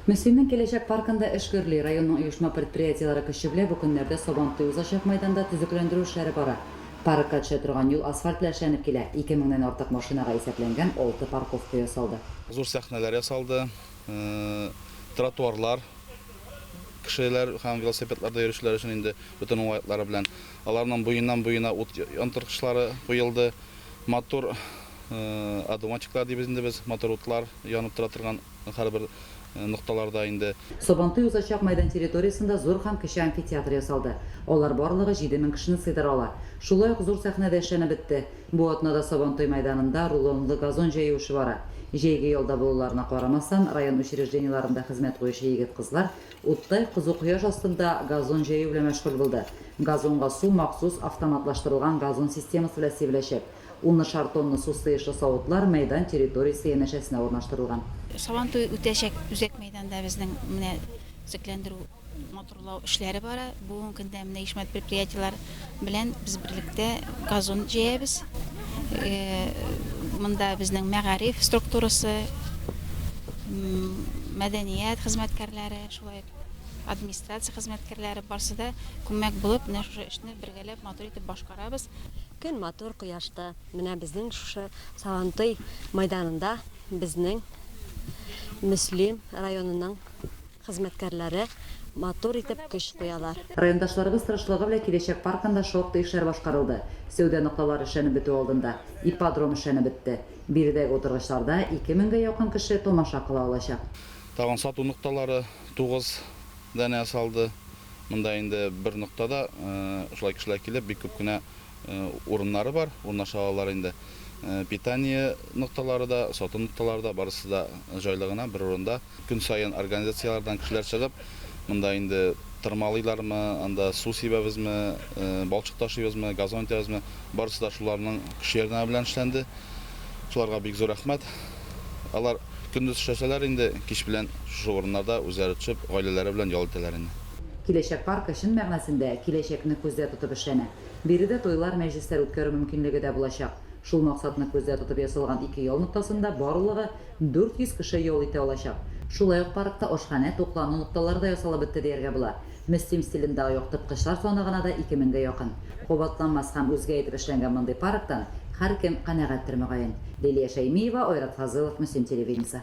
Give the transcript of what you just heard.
Мөслимнең киләчәк паркында эш гөрли, районның оешма-предприятиеләре көче белән бу көннәрдә Сабантуй узачак мәйданда төзекләндерү эшләре бара. Паркка төшә торган юл асфальт белән эшләнеп килә, ике меңнән артык машинага исәпләнгән алты парковка ясалды. Зур сәхнәләр ясалды, тротуарлар, кешеләр һәм велосипедларда йөрүчеләр өчен инде бөтен уңайлыклары белән. Аларның буеннан-буена ут яндырткычлары куелды, матур одуванчиклар дибез инде без, матур утлар янып тора торган. һәрбер нокталарда инде. Сабантуй узачак мәйдан территориясендә зур һәм кече амфитеатр ясалды. Алар барлыгы җиде мең кешене сыйдыра ала. Шулай ук зур сәхнә дә эшләнеп бетте. Бу атнада Сабантуй мәйданында рулонлы газон җәю эше бара. Җәйге ялда булуларына карамастан, район учреждениеларында хезмәт куючы егет-кызлар уттай кызу кояш астында газон җәю белән мәшгуль булды. Газонга су махсус автоматлаштырылган газон системасы белән сибеләчәк. Унышар тонна су сыешлы савытлар мәйдан территориясе янәшәсенә урнаштырылган. Сабантуй үтәчәк үзәк мәйданда безнең менә төзекләндерү, матурлау эшләре бара. Бүгенге көндә менә оешма предприятиеләр белән без берлектә газон җәябез. Монда безнең мәгариф структурасы, мәдәният хезмәткәрләре, шулай ук администрация хезмәткәрләре барсы да күмәк булып, менә шушы эшне бергәләп матур итеп башкарабыз. Көн матур, кояшлы. Менә безнең шушы Сабантуй мәйданында безнең Мөслим районының хезмәткәрләре матур итеп көч куялар. Райондашларыбыз тырышлыгы белән Киләчәк паркында шактый эшләр башкарылды. Сәүдә нокталары эшләнеп бетү алдында, ипподром эшләнеп бетте. Биредәге утыргычларда ике меңгә якын кеше тамаша кыла алачак. Тагын сату нокталары тугыз да нә салды. Монда инде бер нокта да шулай кешеләр килеп, бик күп кенә урыннары бар, урнаша алалар инде. Питание нокталары да, сату нокталары да, барысы да җайлы гына, бер урында. Көн саен организацияләрдән кешеләр чыгып, монда инде тырмалыйлармы, анда су сибәбезме, балчык ташыйбызмы, газон итәбезме, барысы да шуларның көче-ярдәме белән эшләнде. Шуларга бик зур рәхмәт. Алар көндез эшләсәләр инде, кич белән шушы урыннарда үзләре төшеп, гаиләләре белән ял итәләр инде. Киләчәк паркы чын мәгънәсендә киләчәкне күздә тотып эшләнә. Биредә туйлар, мәҗлесләр үткәрү мөмкинлеге дә булачак. Шул максатны күздә тотып ясалган ике ял ноктасында барлыгы 400 кеше ял итә алачак. Шулай ук паркта ашханә, туклану нокталары да ясалып бетте дияргә була. Мөслим стилендагы яктырткычлар саны гына да ике меңгә якын. Кабатланмас һәм үзгә итеп эшләнгән мондый парктан һәркем канәгатьтер, мөгаен. Лилия Шәймиева, Айрат Фазылов, Мөслим телевидениесе.